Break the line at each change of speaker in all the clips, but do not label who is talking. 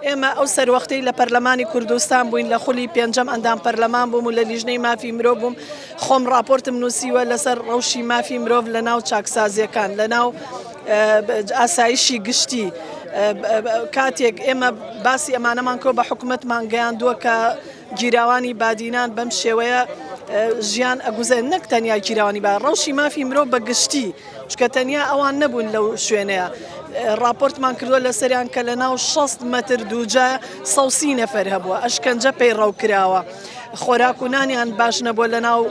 ئێمە ئەو سەروەختەی لە پەرلەمانی کوردستان بووین لە خولی پێنجەم ئەندام پەرلەمان بووم و لە لیژنەی مافی مرۆڤ بووم خۆم راپۆرتم نووسیوە لەسەر ڕەوشی مافی مرۆڤ لە ناو چاکسازیەکان لە ناو ئاسایشی گشتی کاتێک ئێمە باسی ئەمانەمان کۆ بە حکوومەتمان گەیاندووە کە گیراوانی بادینان بەم شێوەیە ژیان ئەگوزێن نەک تەنیا گیراوانی با ڕەوشی مافی مرۆڤ بە گشتی چونکە تەنیا ئەوان نەبوون لەو شوێنەیە ڕاپۆرتمان کردووە لەسەریان کە لە ناو 6 مەتر دووجا سەوسی نەفەر هەبووە ئەشکەنجە پەیڕەو کراوە. خۆراک و نانیان باش نەبووە لە ناو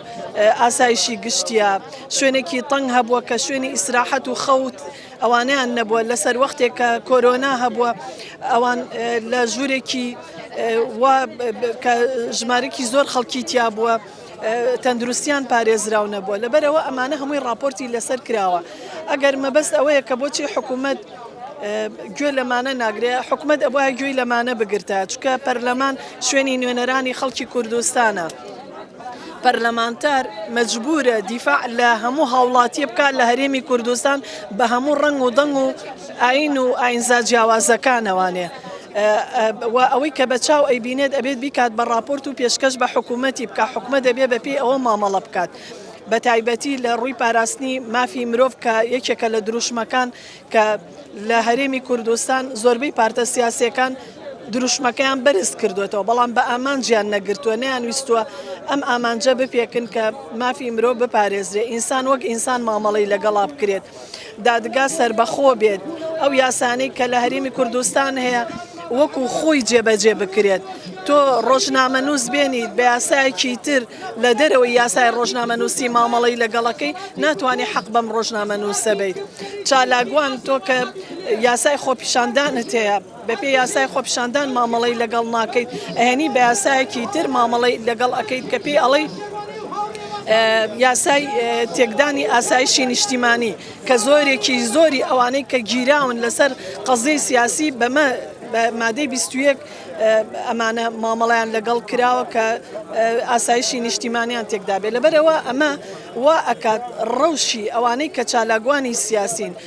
ئاسایشی گشتیە شوێنێکی تەنگ هەبووە کە شوێنی ئیسراحەت و خەوت ئەوانیان نەبووە لەسەر وەختێک کە کۆرۆنا هەبووە ئەوان لە ژوورێکی کە ژمارەکی زۆر خەڵکی تیا بووە. تەندروستیان پارێزراو نەبووە لەبەرئەوە ئەمانە هەمووی ڕاپۆرتی لەسەر کراوە ئەگەر مەبەست ئەوەیە کە بۆچی حکوومەت گوێ لەمانە ناگرێ حکومت ئەبواە گوێی لەمانە بگرتە چکە پەرلەمان شوێنی نوێنەرانی خەڵکی کوردستانە. پەرلەمانتار مەجبورە دیفاع لە هەموو هاوڵاتیە بکات لە هەرێمی کوردستان بە هەموو ڕنگ و دەنگ و ئاین و ئاینزا جیاوازەکانەوانێ و ئەوەی کە بە چاو ئەیبینێت ئەبێت بیکات بە ڕاپۆرت و پێشکەش بە حکوومەتی بکە حکومە دەبێ بەپی ئەوە مامەڵە بکات. بە تایبەتی لە ڕووی پاراستنی مافی مرۆڤ کە یەکێکە لە دروشمەکان کە لە هەرێمی کوردستان زۆربەی پارتە سیاسەکان دروشمەکەیان بەرز کردوێتەوە بەڵام بە ئامانجیان نەگرتووە نیان ویستووە ئەم ئامانجە بپێکن کە مافی مرۆ بپارێزرێ ئینسان وەک ئینسان مامەڵی لەگەڵا بکرێت. دادگا سەربەخۆ بێت، ئەو یاسانەی کە لە هەرێمی کوردستان هەیە وەکو خۆی جێبەجێ بکرێت، تۆ ڕۆژنامەنووس بێنیت بە یاسایەکی تر لە دەرەوەی یاسای ڕۆژنامەنووسی مامەڵەی لەگەڵەکەی ناتوانی حەق بەم ڕۆژنامەنووسە بەیت چالاکوان تۆ کە یاسای خۆپیشاندانت هەیە. بەپێی یاسای خۆپیشاندان مامەڵەی لەگەڵ ناکەیت ئەیەنی بە یاسایەکی تر مامەڵەی لەگەڵ ئەکەیت کە پێی ئەڵێی یاسای تێکدانی ئاسایشی نیشتیمانی کە زۆرێکی زۆری ئەوانەی کە گیراون لەسەر قەزیی سیاسی بەمە بە مادەی 21 ئەمانە مامەڵیان لەگەڵ کراوە کە ئاسایشی نیشتیمانیان تێکدابێت لەبەرەوە ئەمە وا ئەکات ڕەوشی ئەوانەی کە چالاکوانی سیاسین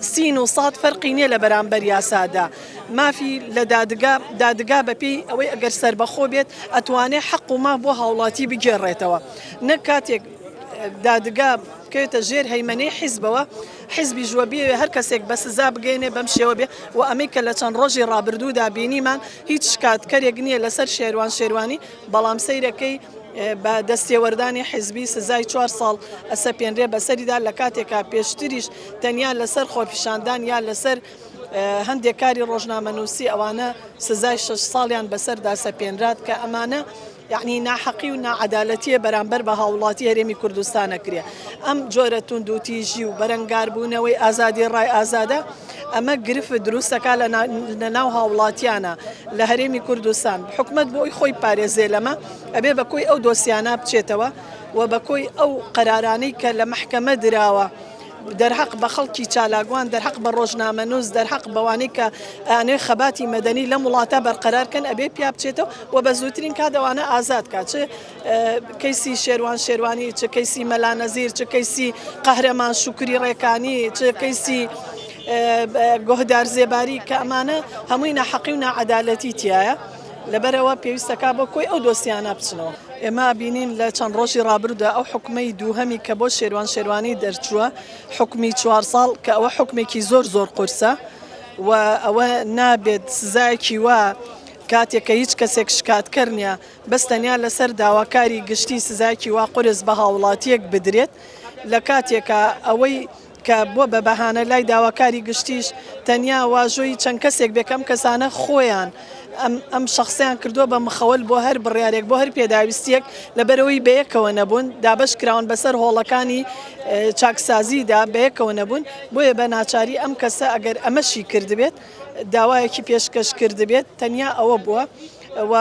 سین و ساد فەرقی نیە لە بەرامبەر یاسادا مافی لە دادگا دادگا بەپێی ئەوەی ئەگەر سربەخۆ بێت ئەتوانێ حەق و ماف بۆ هاوڵاتی بگێڕێتەوە نەک کاتێک دادگا بکەوێتە ژێر هەیمەنەی حیزبەوە حیزبی ژوە بێ هەر کەسێک بە سزا بگەێنێ بەم شێوە بێ و ئەمەی کە لە چەند ڕۆژی ڕابردوودا بینیمان هیچ شکاتکەرێک نییە لەسەر شێوان شێوانی بەڵام سەیرە کەی بە دەستێوەردانی حیزبی سزای چوار ساڵ ئەسەپێنرێ بەسەریدا لە کاتێکا پێشتریش تەنیا لەسەر خۆپیشاندان یا لەسەر هەندێک کاری ڕۆژنامەنووسی ئەوانە سزای شش ساڵیان بەسەردا سەپێنرات کە ئەمانە یعنی ناحەقی و ناعادالەتیە بەرامبەر بە هاوڵاتی هەرێمی کوردستانەکرێ ئەم جۆرە توندوتیژی و بەرەنگاربوونەوەی ئازادی ڕای ئازادە ئەمە گرفت دروست دەکات لە لە ناو هاوڵاتیانە لە هەرێمی کوردستان حکومت بۆی خۆی پارێزێ لەمە ئەبێ بە کۆی ئەو دۆسیانە بچێتەوە و بە کۆی ئەو قەرارانەی کە لە مححکەمە دراوە. دەرحەق بە خەڵکی چالاگوان دەرحەق بە ڕۆژنامە نووس دەرحەق بەوانەی کە ئەنێ خەباتی مەدەنی لەم وڵاتە بەرقەرارکەن ئەبێ پیا بچێتەوە و بە زووترین کادەوانە ئازاد کات چ کەیسی شێروان شێروانی، چ کەیسی مەلا نەزیر، چ کەیسی قەهرەمان شوکری ڕێکانی، چ کەیسی گۆهدار زێباری کە ئەمانە هەمووی ناحەقی و ناعەدالەتی تایە لەبەرەوە پێویستەکە بۆ کۆی ئەو دۆسیانە بچنەوە. ئێمە بینین لە چەند ڕۆژی ڕابردوودا ئەو حوکمەی دووهەمی کە بۆ شێروان شێروانی دەرچووە حوکمی چوار ساڵ کە ئەوە حوکمێکی زۆر زۆر قورسە و ئەوە نابێت سزایەکی وا کاتێک کە هیچ کەسێک شکاتکەر نیە بەس تەنیا لەسەر داواکاری گشتی سزایەکی وا قورس بە هاوڵاتیەک بدرێت لە کاتێکا ئەوەی کە بوە بە بەهانە لای داواکاری گشتیش تەنیا واژۆی چەند کەسێک بێ کەم کەسانە خۆیان ئەم شخصیان کردووە بە مخەوەل بۆ هەر بڕیارێک بۆ هەر پێداویستیەک لەبەرەوەی بەیەکەوە نەبوون دابش کراون بەسەر هۆڵەکانی چاکسازیدا بەیەکەوە نەبوون بۆیە بە ناچاری ئەم کەسە ئەگەر ئەمەشی کردبێت داوایەکی پێشکەش کردبێت تەنیا ئەوە بووە و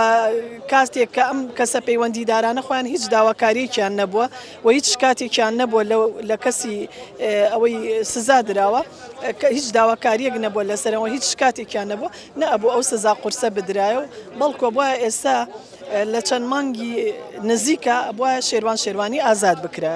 کاتێک کە ئەم کەسە پەیوەندیدارانە خۆیان هیچ داواکاریەکیان نەبووە و هیچ شکاتێکیان نەبووە لە کەسی ئەوەی سزا دراوە کە هیچ داواکاریەک نەبووە لەسەرەوە هیچ شکاتێکیان نەبووە نە ئەبوو ئەو سزا قورسە بدرایە و بەڵکۆ بە ئێستا لە چەند مانگی نزیکە بە شێوان شێوانی ئازاد بکرە.